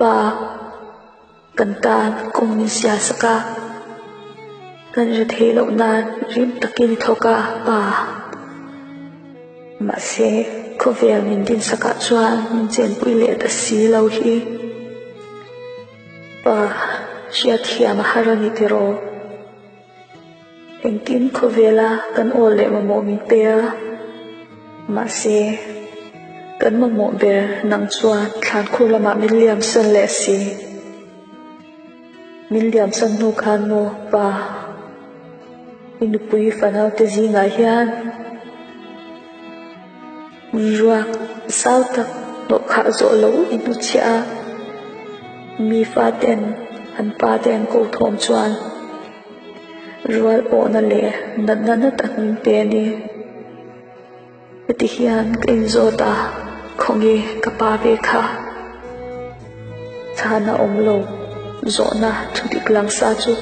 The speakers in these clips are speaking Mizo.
Pa, kan tan kawng min sia sak a, kan ri thei loh nan rim takin i thawk a pa. Mahse khawvel min din sak ah chuan min chenpui leh ta si lo hi pa hriat hiam a har a ni tiraw? Engtin khawvela kan awl leh mamawh min pe a, mahse kan mamawh ber nang chuan Thlankhur lamah min liamsan leh si. Min liamsan hnu khan maw pa, i nupui fanaute zingah hian. Ruak zau tak hnawhkhah zawh lo i hmu chiah a, mi fate-n an pate an ko thawm chuan rual awhna leh nat na na tak min pe ani. Heti hian ka inzawt a, khawnge ka pa ve kha. Chhana awm lo zawhna thu dik lang sa chu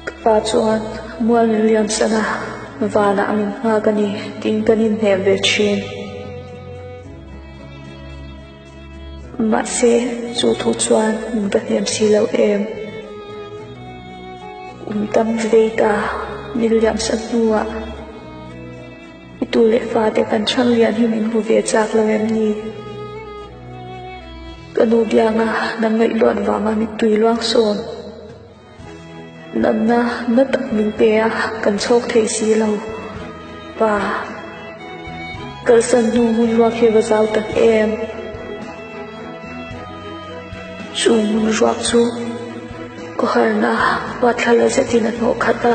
ka pa chuan Mualni Liansana vanah a min nghak a ni tiin kan inhnem ve thin. Mahse chu thu chuan min ka hnem si lo em. Kum tam vei ta Nil Liamsa hnuah. I tu leh fate kan hrang lian hi min hmu ve chak lo em ni? Ka nu bianga na ngaihluan vanga min tui luang sawn. Natna na tak min pe a, kan chhawk thei si lo. Pa. Kalsan hnu hmun ruak hi va zau tak em? Chu hmun ruak chu ka harna hmathla la zetin a hnawh khat a.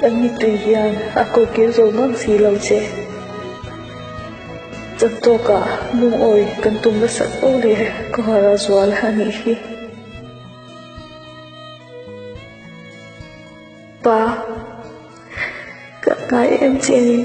Kan mitui hian a kokir zo nghak si lo che. Chantawkah Lungawi kan tum la sat fo leh ka har a zual a nih hi. Pa, kan ngai em chian in.